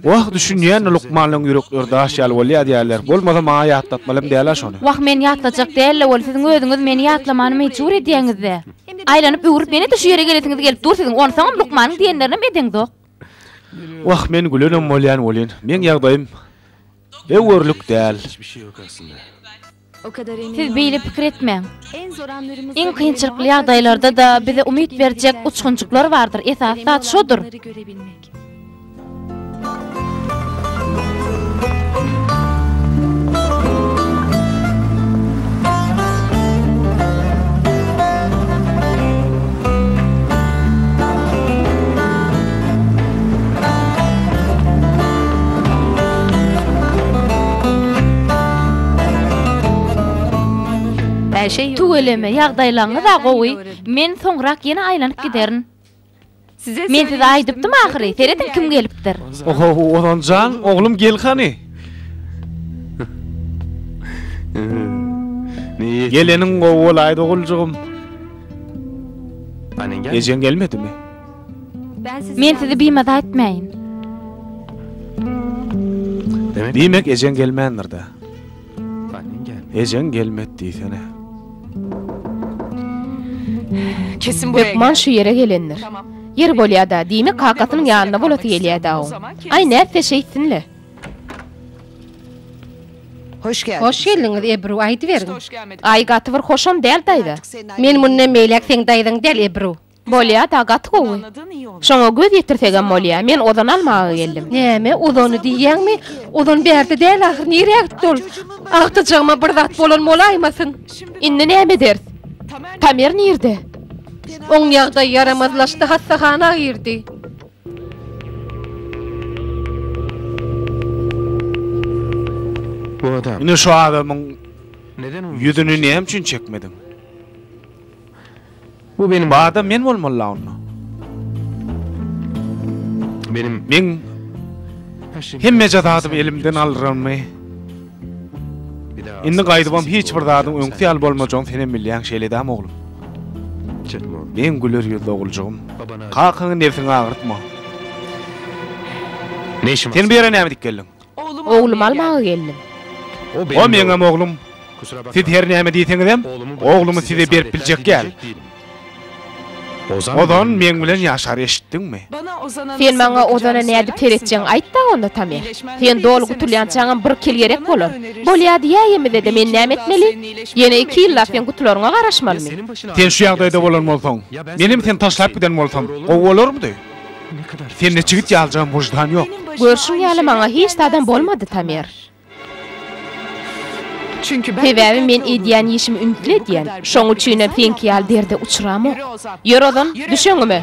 Wah, düşünýän-de lukmanlaryň ýürekleri daş ýaly bolýa diýýärler. Bolmasa maňa ýatlatmalam däl-ä şony. Wah, meni ýatlajak däl-le ol, siziň özüňiz meni ýatlamany mejbur edýäňiz-dä. Aýlanyp-öwrüp ýene-de şu ýere gelesiňiz gelip dur siziň, onsoňam lukmanyň diýenlerinem edeňzok. Wah, men gülenem bolýan welin, meň ýagdaýym. Be görlük däl. Siz beýle pikir etmäň. Iň kynçylykly ýagdaýlarda-da bize umyt berjek uçgunjyklar bardyr, esasy zat şodur. Tüweleme, ýagdaýlaryňyz-a gowy. Men soňrak ýene aýlanyp giderin. Men size aýdypdym ahyry, serediň kim gelipdir. Ohow, Ozan jan, oglum gel hany. Geleniň gowy bolaýdy oguljygym. Ejeň gelmedimi? Men sizi bimaza etmäýin. Diýmek, ejeň gelmändir-dä? Ejeň gelmedi diýsene. Hökman şu ýere gelendir. Ýeri bolýa-da, diýmek, kakasynyň ýanynda bolasy gelýä-dä oň. Aý, nätse şeýtsin-le. Hoş geldiňiz, Ebru, aýdyberiň. Aý, gaty bir hoşam däl daýza. Men mundan beýläk seň daýzaň däl, Ebru. Bolýa da gaty gowy. Şoňa göz ýetirsegem bolýa. Men ozany almaga geldim. Näme ozany diýýäňmi? Ozan bärde däl ahyr nirä gitdi ol? Agtyjagma bir zat bolan bolaýmasyn? Indi näme ederis? Tamer nirde? Oň ýagdaýy ýaramazlaşdy hassahana girdi. Bu adam. Indi şu adamyň ýüzüni näme üçin çekmediň? Bu benim adam men bolmaly la onda. Benim men hemme jazadymy elimden alyramy? Indi gaýdybam hiç bir zadyň öňki ýaly bolmajagyny senem bilýäň şeýledämi oglum? Men güler ýüzli oguljygym. Kakaňy nebsiňi agyrtma. Sen bu ýere näme edip geldiň? Oglum almaga geldim. O meňem oglum. Siz her näme diýseňizem, oglumy size berip biljek däl. Ozan meň bilen ýaşar, eşitdiňmi? Sen maňa Ozana nädip seretjegiňi aýt-da onda, Tamer. Sen doly gutulýançaňam bir kil gerek bolar. Bolýa diýäýemizede men näme etmeli? Ýene iki ýyllap sen gutularyňa garaşmalymy? Sen şu ýagdaýda bolan bolsaň, menem seni taşlap giden bolsam, gowy bolarmydy? Sende çigit ýaljam wyždan ýok. Görşüň ýaly maňa hiç zadam bolmady Tamer. Sebäbi men edýän işimi ümtli edýän. Şoň üçinem seňki ýaly derde uçramok. Ýör ozan, düş öňüme.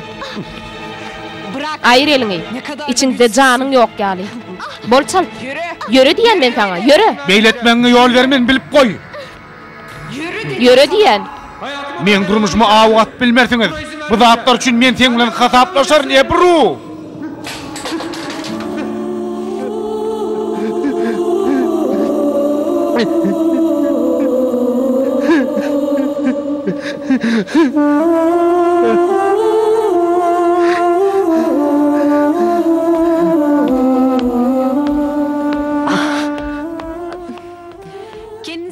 Aýyr eliňi. Içiňde janyň ýok ýaly. Bol çalt. Ýöre diýýän men saňa, ýöre! Beýle etmegiňe ýol bermen bilip goý. Ýöre diýýän. Meň durmuşymy aw atyp bilmersiňiz. Bu zatlar üçin men seň bilen hasaplaşaryn, Ebru!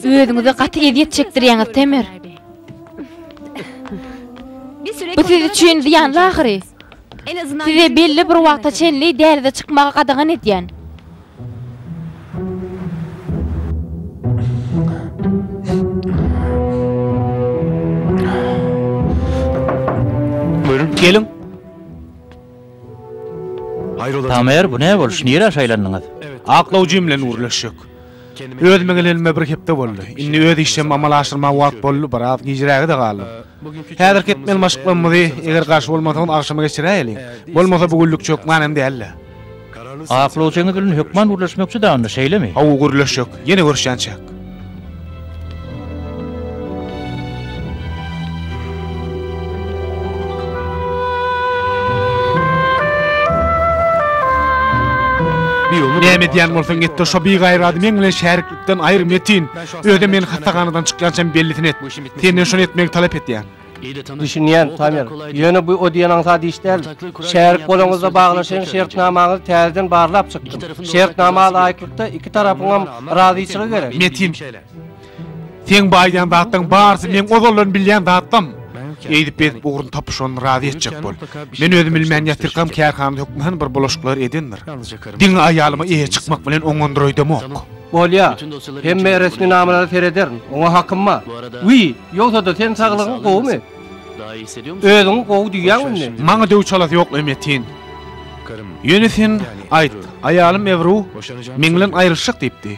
Özüňize gaty ezýet çekdirýäňiz, Temer. Bu siz üçin zyýanly ahyry. Size belli bir wagta çenli dälize çykmagy gadagan edýän. Buyurun. Gelin. Tamer, bu ne boluş? Nirä şaýlandyňyz? Aklawjy bilen gürleşjek. Özüme gelenime bir hepde boldy. Indi öz işlerimi amala aşyrmaga wagt boldy, biraz gijräge-de galdym. Häzirki etmeli maşyklarymyzy, eger garşy bolmasaňyz, agşama geçiräýeliň. Bolmasa bu günlük hökman hem däl-dä. Aklawjyňyz bilen hökman gürleşmekçi-dä onda, şeýlemi? Hawa, gürleşjek. Ýene görüşýänçäk. Näme edýän bolsaň et-de şo bigaýrady meň bilen şäriklikden aýyr Metin. Özem meni hassahanadan çykýançam bellisini et. Senden şony etmegi talap edýän. Düşünýän, Tamer. Ýöne bu o diýen aňsat iş däl. Şärik bolaňyzda baglaşan şertnamaňyzy täzeden barlap çykdym. Şertnama laýyklykda iki tarapyňam razyçylygy gerek. Metin. Seň bu aýdýan zatlaň barysy meň ozaldan bilýän zatlam. Eýdip bezip ugruny tapyp şony razy etjek bol. Men özüm bilmän ýatyrkam kärhanada hökman bir bulaşyklar edendir. Diňe aýalyma eýe çykmak bilen oňandyraýdamok. Bolýa. Hemme resminamalary serederin. Oňa hakym bar. Wiý! Ýogsa-da sen saglygyň gowumy? Özüňi gowy duýýäňmi indi? Maňa döw çalasy ýok, Emetin. Ýöne sen aýt, aýalym Ewru meň bilen aýrylyşjak diýipdi.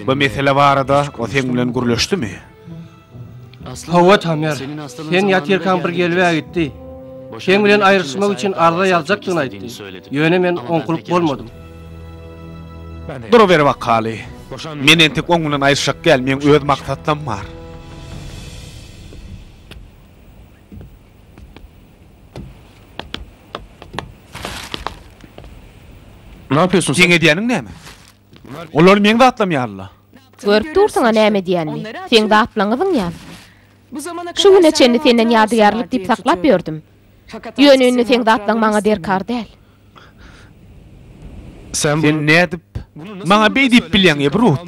Bu mesele barada o seň bilen gürleşdimi? Hawa, Tamer. Sen ýatyrkaň bir gelib-ä gitdi. Seň bilen aýrylyşmak üçin arza ýazjakdygyny aýtdy. Ýöne men oňkulyp bolmadym. Duruber wakaly. Men entek oňňunan aýyrşak däl, meň öz maksatlam bar. Seň edýäniň näme? Olar meň zatlam ýaly-la. Görüp dursuň-a näme edýänimi. Seň zatlaňyzyň ýaly. Şu güne çenli senden ýadygärlik diýip saklap ýördüm. Ýöne indi seň zatlaň maňa derkar däl. Sen nädip maňa beý diýip bilýäň, eý, Brut?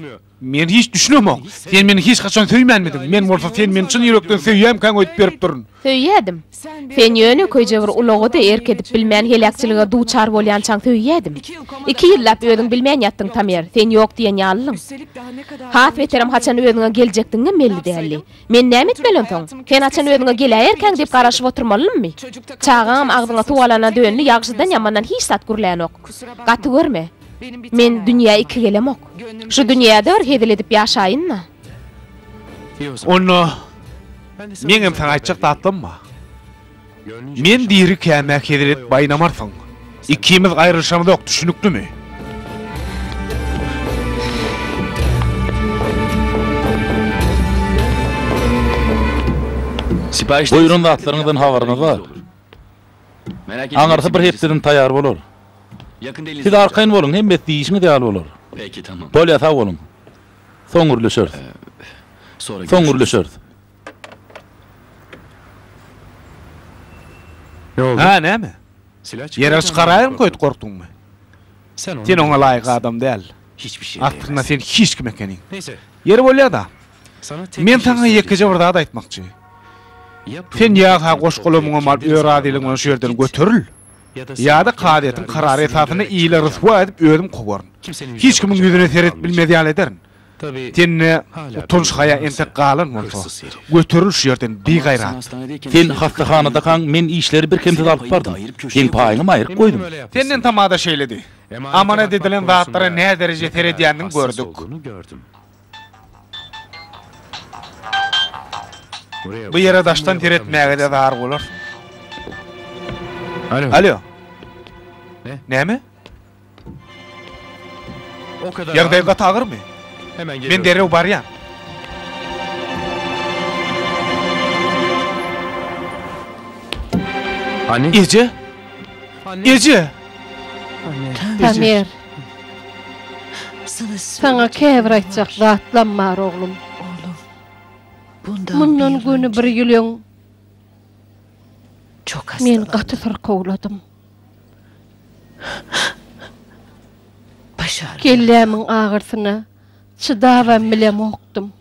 Men hiç düşünemok. Sen meni hiç haçan söýmänmidiň? Men bolsa sen meni çyn ýürekden söýýämkäň öýdüp beripdirin. Söýýädim. Sen ýöne köýje bir ulaga-da erk edip bilmän heläkçilige duçar bolýançaň söýýädim. Iki ýyllap özüň bilmän ýatdyň, Tamer, sen ýok diýen ýalylyň. Has beterem haçan özüňe geljekdigiňem belli däldi. Men näme etmeli onsoň? Sen haçan özüňe geläýerkäň diýip garaşyp oturmalymy? Çagaňam agzyňa suw alana döndi, ýagşydan-ýamandan hiç zat gürlänok. Gaty görme. Men dünýä iki gelemok. Şu dünýäde bir hezil edip ýaşaýyn-da. Onda meňem saňa aýtjak zatlarym bar. Men dirikäm-ä hezret baýnamarsyň. Ikimiz aýrylyşamyzok, düşüniklimi? Buýran zatlaryňyzdan habaryňyz bar. Aňyrsy bir hepdeden taýýar bolar. Siz arkaýyn boluň, hemmesi diýişiňiz ýaly bolar. Bolýar, sag boluň. Soň gürleşeris. Soň gürleşeris. Ne oldu? Hä, näme? Silah çykaryp Ýere çykaraýyryn köýt, gorkduňmy? Sen ony Sen oňa laýyk adam däl. Hiç bir şey Aslynda sen hiç kim ekeniň. Neyse. Ýeri bolýa-da. Men saňa ýekeje bir zat aýtmakçy. Sen ýa ha goş-golamyňy mal öz razylygyň bilen şu ýerden göteril, ýa-da kazyýetiň karary esasynda ili ryswa edip özüm kowaryn. Hiç kimiň ýüzüne seredip bilmez ýaly ederin. Sende utanç-haýa entek galan bolsa, göteril şu ýerden, bigaýrat! Sen hassahanadakaň, men işleri birkemsiz alyp bardym. Seň paýyňam aýryk goýdum. Senden tamada şeýledi. Amanat edilen zatlara nädereje seredýändigiňi gördük. Bu ýere daşdan seretmäge-de zar bolarsyň. Alýo. Näme? Ýagdaýyň gaty agyrmy? Men derrew barýan. Eje! Eje! Tamer! Saňa käbir aýtjak zatlam bar, oglum. Mundan göni bir ýyl öň men gaty syrkawladym. Kellämiň agyrsyna çydabam bilemokdym.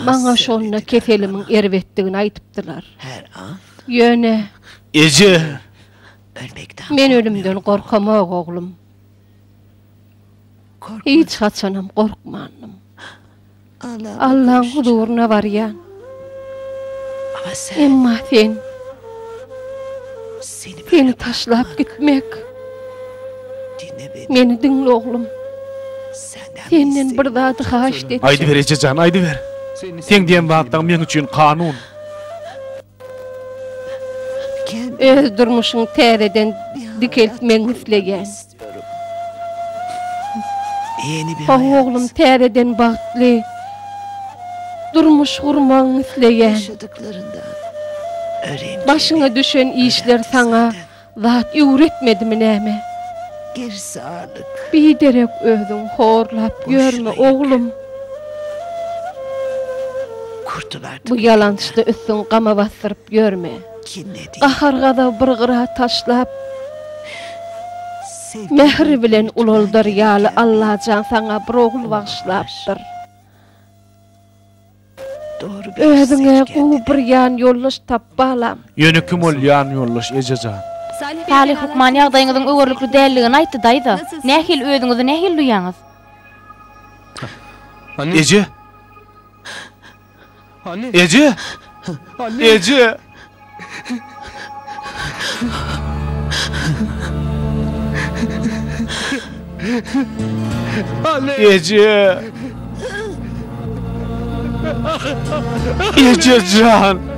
Maňa şonda keselimiň erbetdigini aýdypdylar. Ýöne. Eje! Men ölümden gorkamok, oglum. Hiç haçanam gorkmandym. Allaň huzuryna barýan. Emma sen Seni taşlap gitmek Meni diňle oglum. Senden bir zady haýyşt edýän. Aýdyber ejejan, aýdyber. Sen diýen zatlaň meň üçin kanun. Öz durmuşyňy täzeden dikeltmegiňi isleýän. How oglum täzeden bagtly durmuş gurmagyňy isleýän. Başyňa düşen işler saňa zat öwretmedimi näme? Biderek özüň horlap ýörme oglum. Bu ýalançda üstüň gama basdyryp ýörme. Gahar-gazaby bir gyra taşlap, Mähri bilen ulaldar ýaly Allajan saňa bir ogul bagyşlapdyr. Özüňe gowy bir ýanýoldaş tap, balam! Ýöne kim ol ýanýoldaş, eje jan? Salyh hökman ýagdaýyňyzyň öwerlikli däldigini aýtdy, daýza. Nähili, özüňizi nähili duýýaňyz? Eje! Eje! Eje! Eje! Ejejan!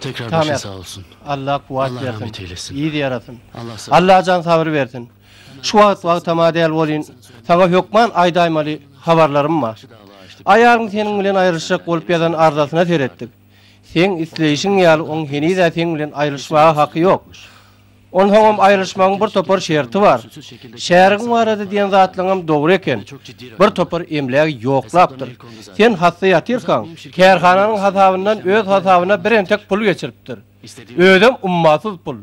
Tekrar Tamam başyň yap. sag olsun. Allah kuwat Allah bersin. rahmet eylesin. Ýyz ýarasyn. Allah sag- Allah jan sabyr bersin. Şu wagt wagtama däl bolýyn. Saňa hökman aýdaýmaly habarlarym bar. Aýalyň seniň bilen aýrylyşjak bolup ýazan arzasyna seretdik. Seň isleýşiň ýaly oň heniz-ä seň bilen aýrylyşmaga haky ýok. Onsoňam aýrylyşmagyň bir topar şerti bar. Şärigiň barada diýen zatlaňam dogry eken. Bir topar emlägi ýoklapdyr. Sen hassa ýatyrkaň, kärhananyň hasabyndan öz hasabyna bir entek pul geçiripdir. Özem ummasyz pul.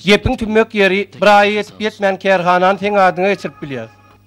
Gepiň tümmek ýeri, bir aýa ýetip-ýetmän kärhanany seň adyňa geçirip bilýäs.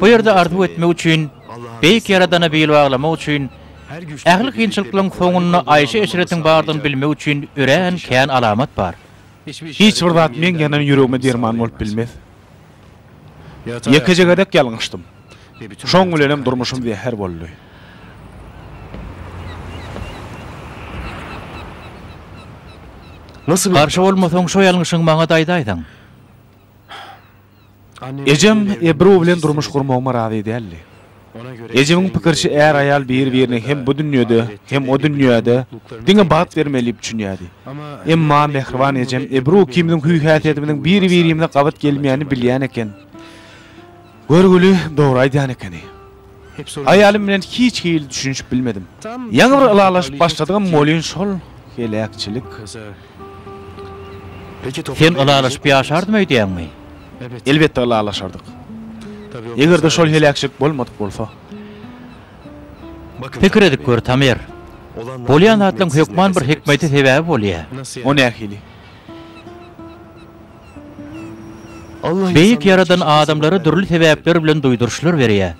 Bu ýerde arzuw etmek üçin, Beýik Ýaradana bil baglamak üçin, ähli kynçylyklaryň soňunda aýşy-eşretiň bardygyny bilmek üçin örän kän alamat bar. Hiç bir zat meň ýanan ýüregime derman bolup bilmez. Ýekeje gezek ýalňyşdym. Şoň bilenem durmuşym zäher boldy. Garşy bolmasaň, şo ýalňyşyňy maňa-da aýdaýsaň. Ejem Ebru bilen durmuş gurmagyma razy däldi. Ejemiň pikiriçe är-aýal bir-birine hem bu dünýede, hem o dünýäde diňe bagt bermeli diýip düşünýärdi. Emma mähriban ejem Ebru ikimiziň hüý-häsiýetimiziň bir-birimize gabat gelmeýänini bilýän eken. Görgüli dogry aýdýan ekeni. Aýalym bilen hiç hili düşünişip bilmedim. Ýaňy bir ylalaşyp başladygym bolyn şol heläkçilik. Sen ylalaşyp ýaşardym öýdýäňmi? Elbetde ylalaşardyk. Egerde şol heläkçilik bolmadyk bolsa. Pikir edip gör Tamer. Bolýan zatlaryň hökman bir hikmeti sebäbi bolýa. O nähili? Beýik Ýaradan adamlara dürli sebäpler bilen duýduryşlar berýär.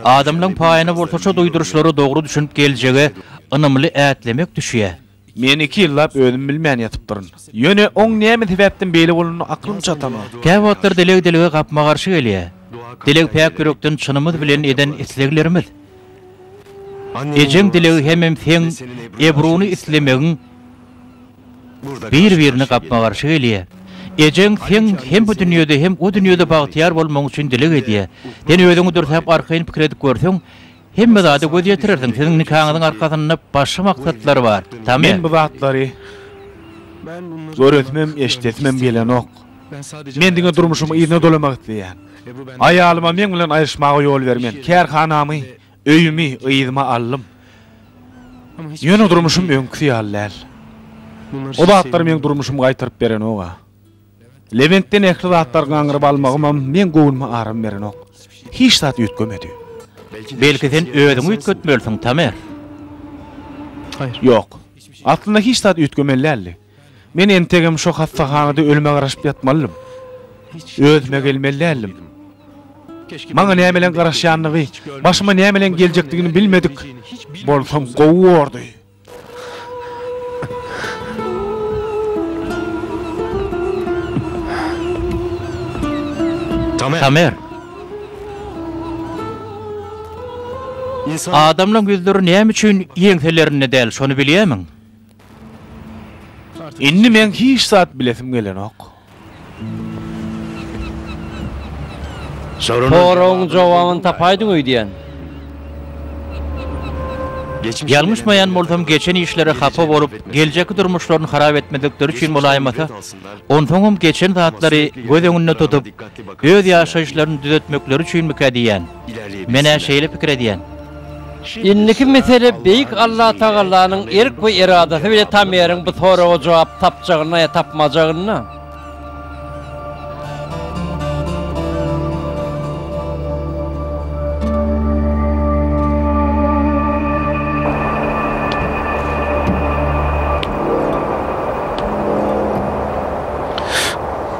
Adamlaryň paýyna bolsa şo duýduryşlara dogry düşünip geljege ynamly ätlemek düşýär. Men iki ýyllap özüm bilmän ýatypdyryn. Ýöne oň näme sebäpden beýle bolanyna aklym çatanok. Käwagtlar dileg dilege gapma-garşy gelýär. Dileg päk ýürekden çynymyz bilen eden isleglerimiz. Ejeň dilegi hemem seň ebruny islemegiň. Bir-birine gapma-garşy gelýär. Ejeň seň hem bu dünýede, hem o dünýede bagtyýar bolmagyň üçin dileg edýär. Sen özüňi dürsäp arkaýyn pikir edip görseň, hemme zada göz ýetirersiň. Siziň nikaňyzyň arkasynda başga maksatlar bar, Tame. Men bu zatlary göresimem, eşidesimem gelenok. Men diňe durmuşymy yzyna dolamak isleýän. Aýalyma meň bilen aýryşmaga ýol bermen. Kärhanamy Öýümi yzyma aldym. Ýöne durmuşym öňküsi ýaly däl. O zatlar meň durmuşymy gaýtaryp berenok-a. Lebentden ähli zatlary gaňryp almagymam meň göwnüme aram berenok. Hiç zat üýtgemedi. Belki sen özüňi üýtgetmelisiň, Tamer? Ýok. Aslynda hiç zat üýtgemeli däldi. Men entegem şo hassahanada ölüme garaşyp ýatmalydym. Özüme gelmeli däldim. Maňa nämeleň garaşýandygy, başyma nämeleň geljekdigini bilmedik bolsam gowy bordy. Tamer! Adamlaň ýüzleri näme üçin ýeňselerinde däl, şony bilýärmiň? Indi meň hiç zat bilesim gelenok. Soragyň jogabyny tapaýdyň öýdýän. Ýalňyşmaýan bolsam, geçen işlere hapa bolup, geljekki durmuşlaryny harap etmedikleri üçin bolaýmasa, onsoňam geçen zatlary göz öňünde tutup, öz ýaşaýyşlaryny düzetmekleri üçinmikä diýýän. Men-ä şeýle pikir edýän. Indiki mesele Beýik Allatagalanyň erk we eradasy bilen Tameriň bu soraga jogap tapjagynda ýa tapmajagynda.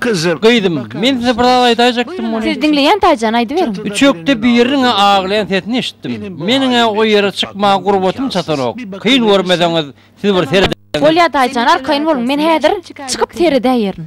Gyzym. Gyzym, men size bir zat aýdaýjakdym, muny. Siz diňleýän Taýjan, aýdyberiň. Üçekde biriniň-ä aglaýan sesini eşitdim. Meniň-ä o ýere çykmaga gurbatym çatanok. Kyn görmeseňiz, siz bir seredäýiň. Bolýar Taýjan, arkaýyn boluň, men häzir çykyp seredäýerin.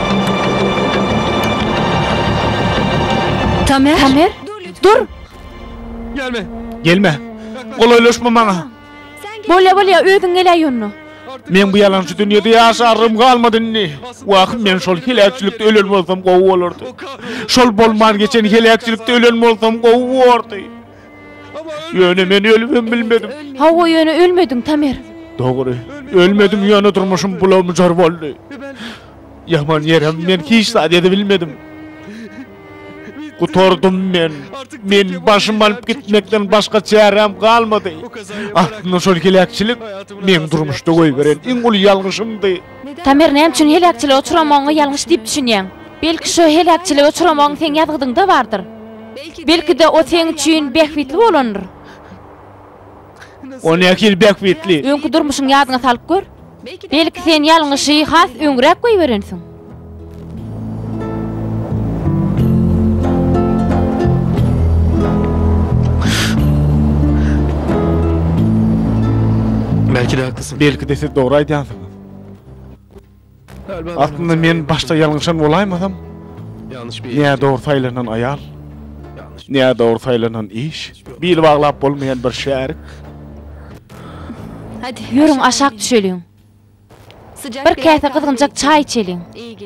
Tamer! Tamer! Dur! Gelme! Gelme! Golaýlaşma maňa! Bolýa, bolýa, özüň geläý ýonuna! Men bu ýalançy dünýede ýaşarym galmady indi. Wah, men şol heläkçilikde ölen bolsam gowy bolardy. Şol bolman geçen heläkçilikde ölen bolsam gowy bordy. Ýöne men ölüp hem bilmedim. Hawa, ýöne ölmediň, Tamer. Dogry, ölmedim, ýöne durmuşym bulamjar boldy. Ýaman ýerem men hiç zat edebilmedim. Gutardym men. Men başym alyp gitmekden başga çäräm galmady. Aslynda şol heläkçilik meň durmuşda goýberen iň uly ýalňyşymdy. Tamer näme üçin heläkçilige uçramagyňy ýalňyş diýip düşünýäň? Belki şo heläkçilige uçramagyň seň ýazgydyňda bardyr? Belki-de o seň üçin bähbitli bolandyr? On näçe ýyl bäk witli. Öňki durmuşyňy ýadyňa salyp gör. Belki sen ýalňyşy has öňräk goýberensiň. Belki-de haklysyn. Belki-de siz dogry aýdýansyňyz. Aslynda men başda ýalňyşan bolaýmasam, nä dogry saýlanan aýal, nä dogry saýlanan iş, bil baglap bolmaýan bir şärik. Hadi, ýörüň aşak düşeliň. Bir käse gyzgynjak çaý içeliň.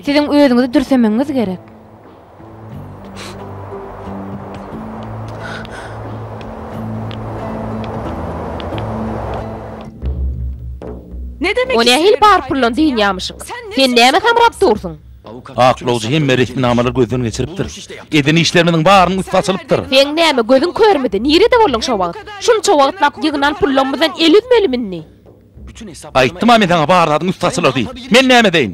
Siziň özüňizi dürsemegiňiz gerek. O nähili bar pullan dynýamyşyň? Sen näme samrap dursuň? Aklawjy hemme resminamalary gözden geçiripdir. Eden işlerimiziň barynyň üsti açylypdyr. Seň näme gözüň körmidi? Nirede bolduň şo wagt? Şunça wagtlap ýygnan pullarymyzdan el üzmelimindi? Aýtdym-a men saňa bar zadyň ussasydyr diýip. Men näme edeýin?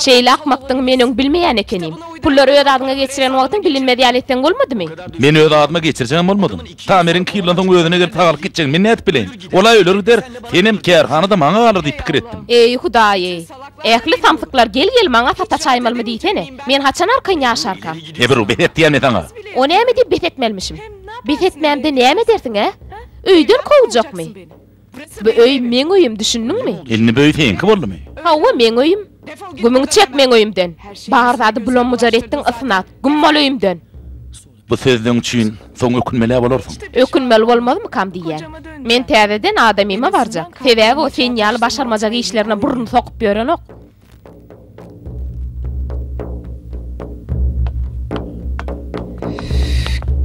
Şeýle akmakdygyňy men öň bilmeýän ekenim. Pullary öz adyňa geçiren wagtyň bilinmez ýaly etseň bolmadymy? Men öz adyma geçirjegem bolmadym. Tameriň iki ýyldan soň özüne gelip sagalyp gitjegini men nädip bileýin? Ol-a öler gider, senem, kärhana-da maňa galar diýip pikir etdim. Eý, Hudaý-eý! Ähli samsyklar gel-gel maňa sata çaýmalymy diýsene. Men haçan arkaýyn ýaşarkam? Ebru, bes et diýýän men saňa! O näme diýip bes etmelimişim? Bes etmämde näme edersiň-ä? Öýden kowjakmy? Bu öý meň öýüm düşündiňmi? Indi bu öý seňki boldumy? Hawa meň öýüm. Gümüňi çek meň öýümden. Bar zady bulam-bujar etdiň ysnat. Güm bol öýümden. Bu sözleň üçin soň ökünmelä bolarsyň. Ökünmeli bolmazmykam diýýän. Men täzeden adamyma barjak. Sebäbi o sen ýaly başarmajak işlerine burnun sokup ýörenok.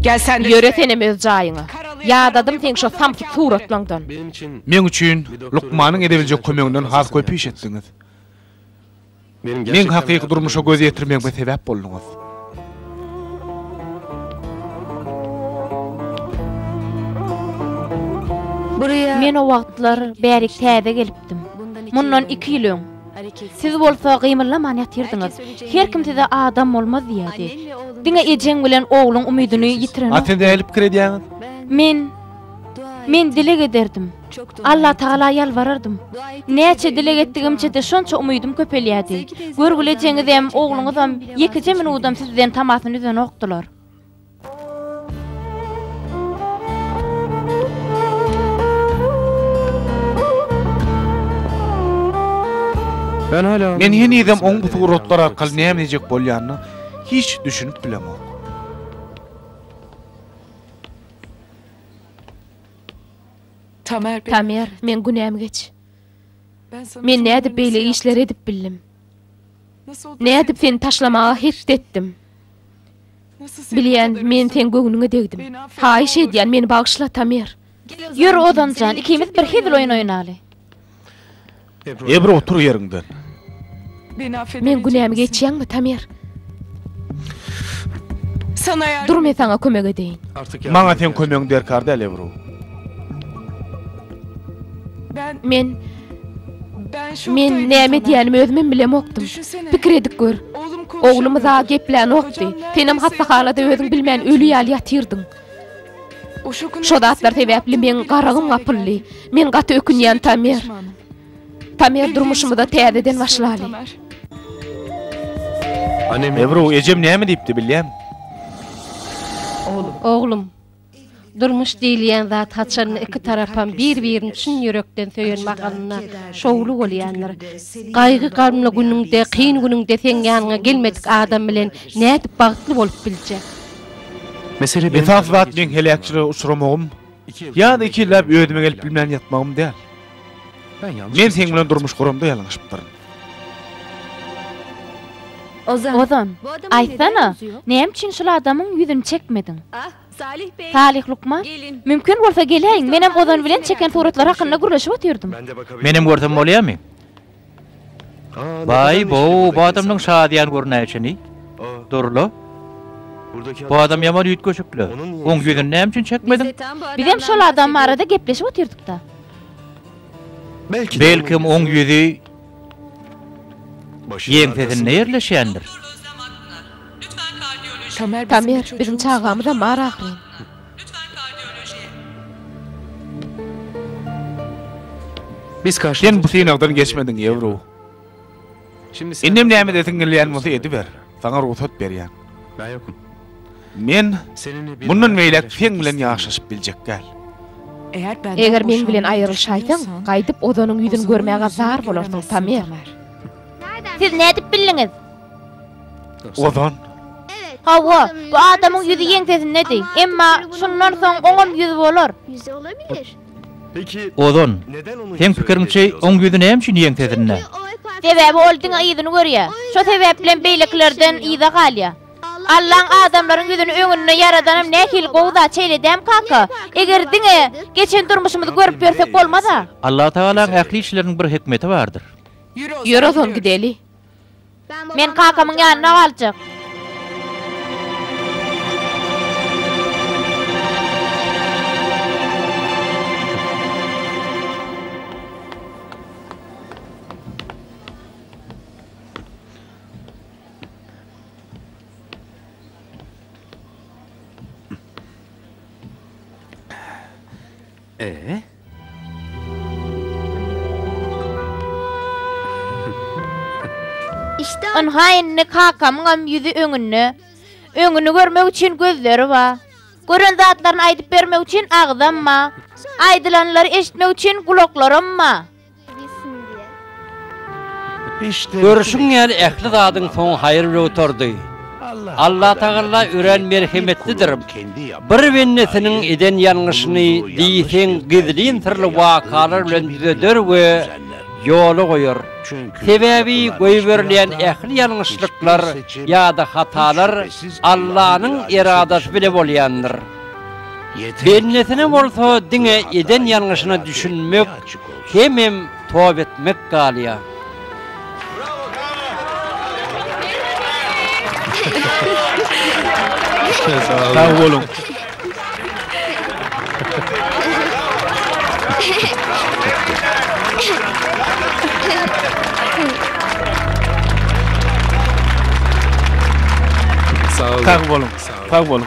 Ýöre senem öz jaýyňa. Ýadadym seň şo samsyk suratlaňdan. Meň üçin lukmanyň edebiljek kömeginden has köp iş etdiňiz. Meň hakyky durmuşa göz ýetirmegime sebäp bolduňyz. Men o wagtlar bärik täze gelipdim. Mundan iki ýyl öň. Siz bolsa gymyllaman ýatyrdyňyz. Her kim size adam bolmaz diýerdi. Diňe ejeň bilen ogluň umydyny ýitirenok. A siz nähili pikir edýäňiz? Men. Men dileg ederdim. Allatagala ýalbarardym. Näçe dileg etdigimçe-de şonça umydym köpelýärdi. Görgülejeňizem, ogluňyzam ýekeje minudam sizden tamasyny üzenokdylar. Men henizem oň bu suratlar arkaly näme diýjek bolýanyna hiç düşünip bilemok. Tamer, meň günäm geç. Men nädip beýle işleri edip bildim? Nädip seni taşlamaga hetdi etdim? Bilýän, men seň göwnüňe degdim. Haýyş edýän, meni bagyşla, Tamer. Ýör, Ozan jan, ikimiz bir hezil oýun oýnaly. Ebro otur ýeriňden. Meň günämi geçýäňmi Tamer? Dur men saňa kömek edeýin. Maňa seň kömegiň derkar däl Ebro. Men Men näme edýänimi özümem bilemokdym. Pikir edip gör. Oglumyz-a geplänokdy. Senem hassahanada özüň bilmän öli ýaly ýatyrdyň. Şo zatlar sebäpli meň garagym gapyldy. Men gaty ökünýän Tamer. Tamer durmuşymyza täzeden başlaly. Ebru ejem näme diýipdi bilýämi? Oglum. Durmuş diýilýän zat haçan iki tarapam bir birini çyn ýürekden söýen mahalynda şowly bolýandyr. Gaýgy gamly günüňde kyn günüňde seň ýanyňa gelmedik adam bilen nädip bagtly bolup biljek. Esas zat meň heläkçilige uçramagym ýa-da iki ýylläp özüme gelip bilmän ýatmagym däl. Men seň bilen durmuş guramda ýalňyşypdyryn. Ozan, aýtsana, näme üçin şol adamyň ýüzüni çekmediň? Salyh lukman, mümkin bolsa geläýiň, menem Ozan bilen çeken suratlary hakynda gürleşip otyrdym. Menem görsem bolýarmy? Baý, bu adamyň şadyýan görnäýşini, Durla? Bu adam ýaman üýtgeşik-le. Oň ýüzüni näme üçin çekmediň? Bizem şol adam barada gepleşip otyrdyk-da. Belkem, oň ýüzi ýeňsesinde ýerleşendir. Tamer, biziň çagamyzam bar ahyryn. Lütfen kardiolojiye. Biz karşy Sen bu synagdan geçmediň Ýewro. Indem näme edesiň gelýän bolsa ediber. Saňa rugsat berýän. Men mundan beýläk seň bilen ýaşaşyp biljek däl. Eger meň bilen aýrylyşaýsaň, gaýdyp Ozanyň ýüzüni görmäge zar bolarsyň, Tamer. Siz nädip bildiňiz? Ozan. Hawa, bu adamyň ýüzi ýeňsesindedi. Emma şundan soň oňam ýüz bolar. Ozan. Seň pikiriňçe, oň ýüzi näme üçin ýeňsesinde? Sebäbi ol diňe yzyny görýär. Şo sebäplem beýlekilerden yza galýar. Allaň adamlaryň ýüzüni öňünde ýaradanam nähili gowy zat şeýledäm kaka? Eger diňe geçen durmuşymyzy görüp ýörsek bolmaz-a? Allatagalaň ähli işleriniň bir hikmeti bardyr. Ýör Ozan gideli. Men kakamyň ýanynda galjak. Ynha indi kakamyňam ýüzi öňünde. Öňüni görmek üçin gözleri bar. Gören zatlaryny aýdyp bermek üçin agzam bar. Aýdylanlary eşitmek üçin gulaklaram bar. Görşüň ýaly ähli zadyň soňy haýyr bilen gutardy. Allatagalla örän merhemetlidir. Bir bendesiniň eden ýalňyşyny diýseň gizlin syrly wakalar bilen düzeder we ýola goýar. Sebäbi goýberilýän ähli ýalňyşlyklar ýa-da hatalar Allanyň eradasy bilen bolýandyr. Bendesine bolsa diňe eden ýalňyşyna düşünmek hemem toba etmek galýar. Sag boluň. Sag boluň. Sag boluň.